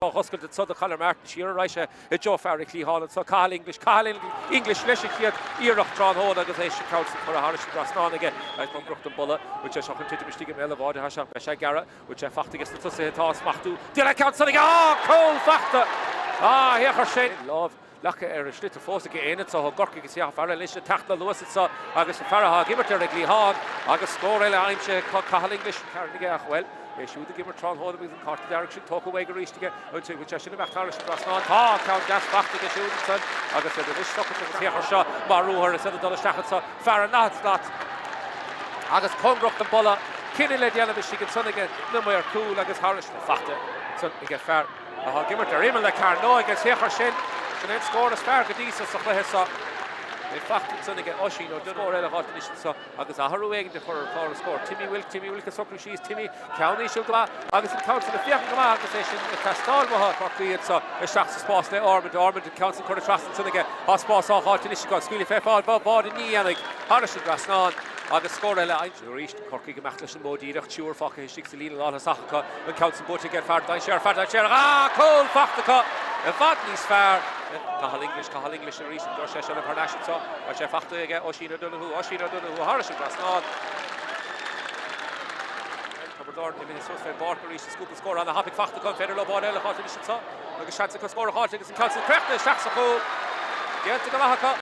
Á dh'oscailt annso do Conor Martin siar a raghaidh sé i dtreó fear a' chliatháin annso. Cathal English. Cathal English leis an chéad iarracht tráthnóna agus é sin, an ceann san curtha tharais an dtrasnán aige. Cóngarach don bpolla. Bhfuil sé seo chun titim istigh i mbéal a' bháid athá seo. Beidh sé gearra. Bhfuil sé fachta aige sna tosaithe atá á smachtú. Deineadh a cheann san aige. Á! Cúl fachta! Á! Féach air sin! Lámh. leagtha ar a sliotar fós ag éinne anso i gCorcaigh. Is é an fear eile anois ag teacht le luas anseo agus an fear atá ag imirt ar an gcliathán agus scór eile aimsithe ag Cathal English. An fear aige ach, bhuel, é siúd ag imirt tráthnóna agus an cárta dearg sin tógtha uaidh arís aige. An bhfuil sé sin imithe thairis an trasnán? Tá an ceann deas fachta aige siúd ansan agus iad anois socraithe, féach air seo mar ruathar is iad ag dul isteach anseo. Fear in achan slat agus cóngarach don bpolla. Cinneadh le déanamh istigh ansan aige na maoir cúil agus thairis. Tá fachta ansan aige fear. Tá ag imirt ar imeall na cearnóige agus féach air sin. Sin é an scór is fearr go dtí seo sa chluiche seo. É fachta ansan aige Oisín O'Donoghue. Scór eile a dh'fháilt anois anso agus athrú éigin a chur ar chlár an scóir. Timmy Wilk, Timmy Wilk ag socrú síos. Timmy, ceann íseal go maith agus an ceann san ag féachaint go maith agus é sin ag teastáil ó Chorcaigh anso. Isteach sa spás le Ormond. Ormond, an ceann san curtha trasna ansan aige. Tá spás á dh'fháilt anois acu. Scaoilfidh fé fáil bháid ní dhéanfaidh. Thairis an dtrasnán agus scór eile aimsithe arís. Corcaigh ag imeacht leis an mód díreach, triúr fágtha istigh sa líne lántosach acu, an ceann san buaite ag an bhfear dainséarach, fear dainséarach, dhá chúl fachta acu, i bhfad níos fearr le Cathal English, Cathal English arís an dtabharfaidh sé seilbh thar n-ais anso agus é fachta aige, Oisín O'Donoghue, Oisín O'Donoghue tharais an trasnán. Tiobraid Árann imithe suas fén bpáirc arís is cúpla scór ana thapaidh fachta acu, an féidir leo báide eile a fháilt anois anseo agus seans acu scór a fháilt agus an ceann san críochnaithe isteach sa chúl. Déanta go maith acu.